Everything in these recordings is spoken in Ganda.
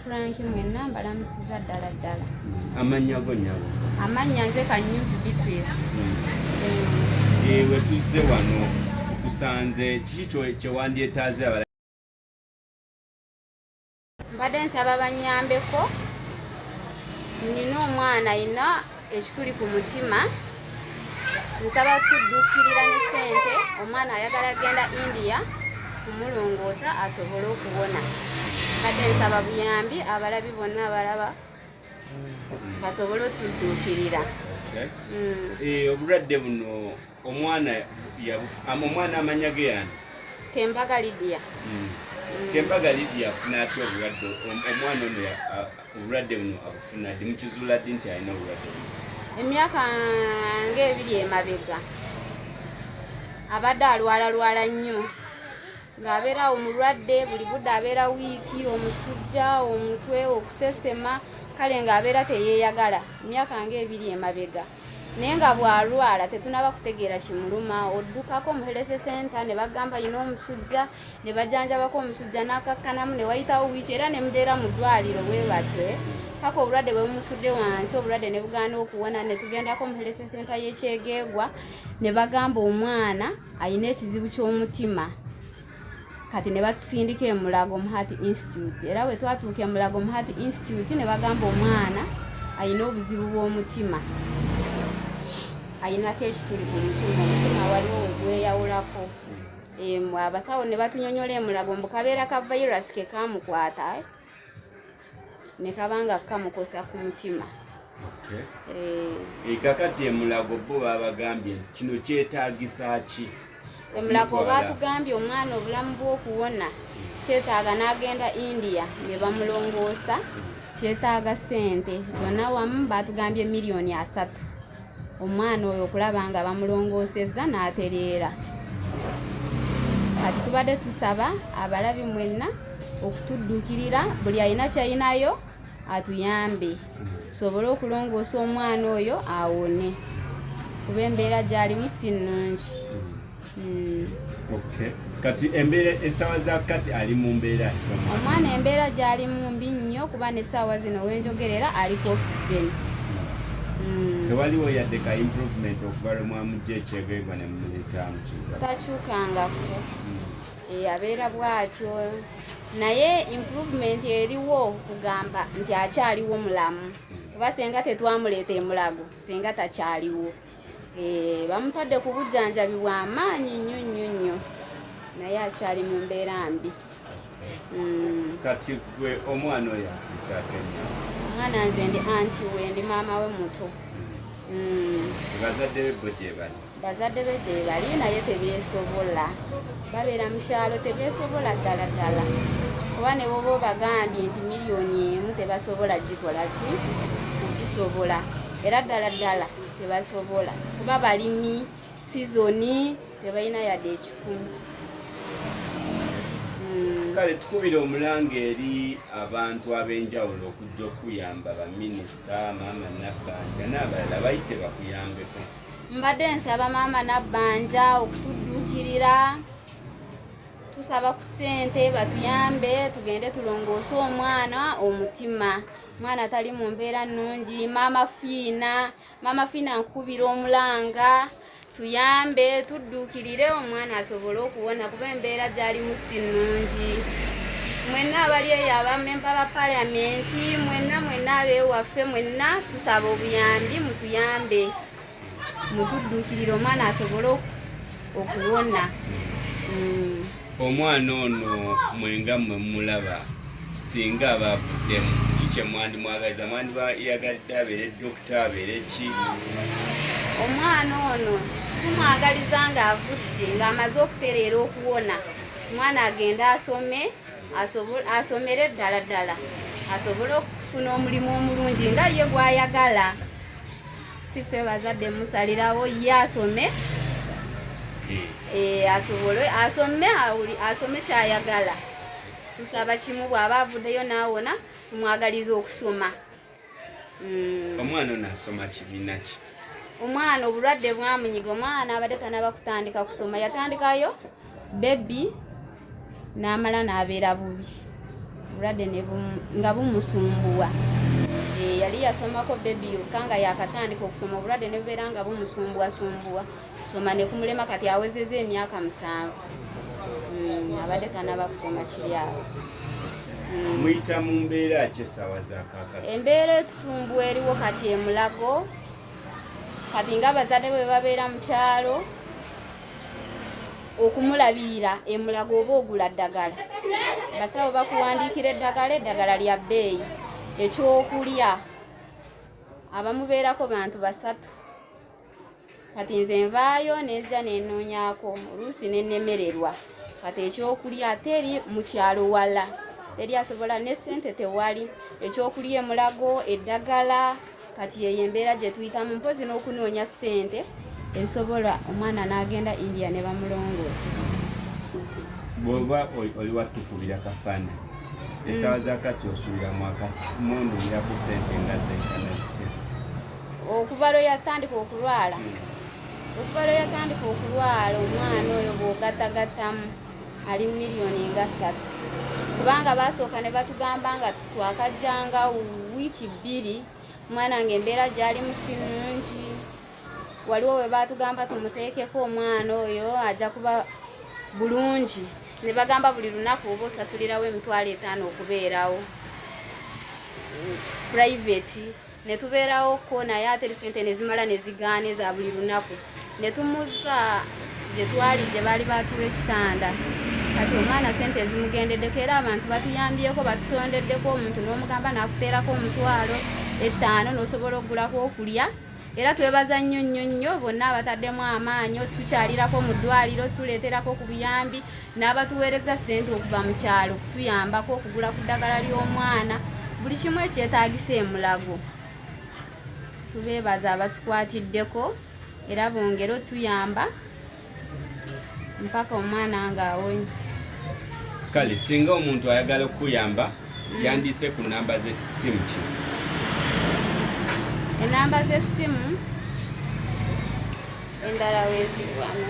Frank mwenna mbalamusiza ddala ddala. Amannya go nyabo? Amannya nze Kanyuzi Beatrice. Hmm. Eh, we tuzze wano tukusanze kiki kye wandyetaaze abala? Mbadde nsaba bannyambeko nnina omwana ayina ekituli ku mutima nsaba kudduukirira ne ssente omwana ayagala genda india kumulongoosa asobole okuwona kade nsaba buyambi abalabi bonna abalaba basobole otudduukirira eh, obulwadde buno omwana omwana amanya ge yani kembaga lidia hmm. kembaga lidia afuna atya obulwadde omwana ono obulwadde buno abufuna ddi mukizuula ddi nti alina obulwadde buno emyaka ngaebiri emabega abadde alwalalwala nnyo ng'abeerawo mulwadde buli budde abeera wiiki omusujja omutwe okusesema kale ng'abeera teyeeyagala emyaka ngaebiri emabega naye nga bwalwala tetunaba kutegeera kimuluma oddukako mu health center ne bagamba yina omusujja ne bajanjabako omusujja n'akakkanamu ne wayitawo wiiki era ne mubeera mu ddwaliro bwe batyo paka obulwadde bwe bumusudde wansi obulwadde ne bugaana okuwona ne tugendako mu health center y'ekyegeegwa ne bagamba omwana alina ekizibu ky'omutima kati ne batusindika e Mulago Muhati Institute era bwe twatuuka e Mulago Muhati Institute ne bagamba omwana alina obuzibu bw'omutima alinako ekituli ku mutima omutima waliwo wegweyawulako abasawo ne batunyonyola e Mulago mbu kabeera ka virus ke kaamukwata ne kaba nga kamukosa ku mutima eh. kakati emulago bo babagambye nti kino kyetagisa ki emulago batugambye omwana obulamu bwokuwona kyetaaga n'agenda india ne bamulongoosa kyetaaga sente zonna wamu batugambye miliyoni asatu omwana oyo okulaba nga bamulongoosezza n'atereera kati tubadde tusaba abalabi mwenna okutudduukirira buli alina kyalinayo atuyambe tusobole okulongoosa omwana oyo awone kuba embeera gyalimu si nnungi Hmm. Okay. Kati embeera essaawa za kati ali mu mbeera ki? Omwana embeera gy'alimu mbi nnyo kuba n'essaawa zino wenjogera era ali ku oxygen. Hmm. Tewaliwo yadde ka improvement okuva lwe mwamujja ekyegeegwa ne mumuleeta mu kibuga? Takyukangako. Hmm. Eh, abeera bw'atyo naye improvement eriwo kugamba nti akyaliwo mulamu kuba senga tetwamuleeta emulago senga takyaliwo Eh, bamutadde ku bujjanjabi bwa maanyi nnyo nnyo nnyo naye akyali mu mbeera mbi mm. kati gwe omwana oyo omwana nze ndi anti we ndi maama we muto mm. bazadde be bo gyebali bazadde be gyebali naye tebyesobola babeera mu kyalo tebyesobola ddala ddala kuba ne boba obagambye nti miliyoni emu tebasobola gikola ki kugisobola era ddala ddala tebasobola kuba balimi sizoni tebalina yadde ekikumi hmm. kale tukubira omulanga eri abantu ab'enjawulo okujja okuyamba baminisita maama nabbanja n'abalala bayite bakuyambeko mbadde nsaba maama nabbanja okutudduukirira tusaba ku ssente batuyambe tugende tulongoose omwana omutima mwana atali mu mbeera nnungi maama fiina maama fiina nkukubira omulanga tuyambe tudduukirire omwana asobole okuwona kuba embeera gyalimu si nnungi mwenna abali eyo abamemba ba paliamenti mwenna mwenna abeewaffe mwenna tusaba obuyambi mutuyambe mutudduukirire omwana asobole okuwona mm. omwana ono mwenga mwe mulaba singa aba avuddemu ki kye mwandimwagaliza mwandiba yagadde abeere dokita abeere ki omwana ono tumwagaliza ng'avudde ng'amaze okutereera okuwona omwana agende asome asomere ddala ddala asobole okufuna omulimu omulungi nga ye gwayagala sife bazadde musalirawo ye asome eh. Eh, asobole asome asome kyayagala tusaba kimu bwaba avuddeyo naawona tumwagaliza okusoma mm. omwana ono asoma kibiina ki omwana obulwadde bwamunyiga omwana abadde tanaba kutandika kusoma yatandikayo bebi n'amala n'abeera bubi obulwadde nga bumusumbuwa eh, yali yasomako bebi yokka nga yakatandika okusoma obulwadde ne bubeera nga bumusumbuwasumbuwa soma ne kumulema kati awezeza emyaka musanvu hmm, abadde kanaba kusoma kiri awo hmm. muyita mu mbeera ki essaawa zakakati embeera etusumbuwa eriwo kati emulago kati nga abazadde bwe babeera mu kyalo okumulabirira emulaga oba ogula ddagala basawo bakuwandiikira eddagala eddagala lya bbeeyi ekyokulya abamubeerako bantu basatu kati nze nvaayo nezza nenoonyako oluusi nenemererwa kati ekyokulya ate eri mu kyalo wala teri asobola ne ssente tewali ekyokulya emulago eddagala kati yeyo embeera gye tuyitamu mpozi n'okunoonya ssente ezisobola omwana n'agenda india ne bamulongoosa bwoba oli watukubira kafaana esaawa za kati osuubira mwaka mundumirako ssente nga zenkana zitya okuva lwe yatandika okulwala hmm. okuva lwe yatandika okulwala omwana oyo bw'ogatagattamu ali mu miliyoni nga ssatu kubanga baasooka ne batugamba nga twakajjanga wiiki bbiri omwana nga embeera gyalimu si nungi waliwo we baatugamba tumuteekeko omwana oyo ajja kuba bulungi ne bagamba buli lunaku oba osasulirawo emitwalo etaano okubeerawo private ne tubeerawokko naye ate sente ne zimala ne zigaana eza buli lunaku ne tumuzza gye twali gye baali baatuwa ekitanda kati omwana sente ezimugendeddeko era abantu batuyambyeko batusondeddeko omuntu n'omugamba n'akuteerako omutwalo ettaano n'osobola okugulako okulya era twebaza nnyo nnyo nnyo bonna abataddemu amaanyi otukyalirako mu ddwaliro tuleeterako ku buyambi n'abatuweereza ssente okuva mu kyalo okutuyambako okugula ku ddagala ly'omwana buli kimu ekyetaagisa emulago tubeebaza abatukwatiddeko era bongere otuyamba mpaka omwana ng'awonye kale singa omuntu ayagala okukuyamba mm. yandiise ku namba z'essimu ki enamba z'essimu endala weziwano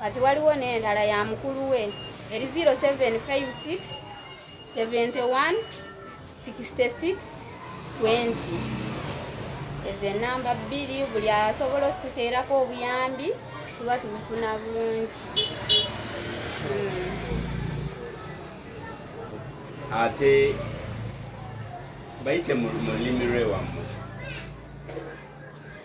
kati waliwo n'endala ya mukulu we eri 0756 71 66 20 ezo enamba bbiri buli asobola okututeerako obuyambi tuba tubufuna bulungi hmm. ate bayite mu lulimi lwewamu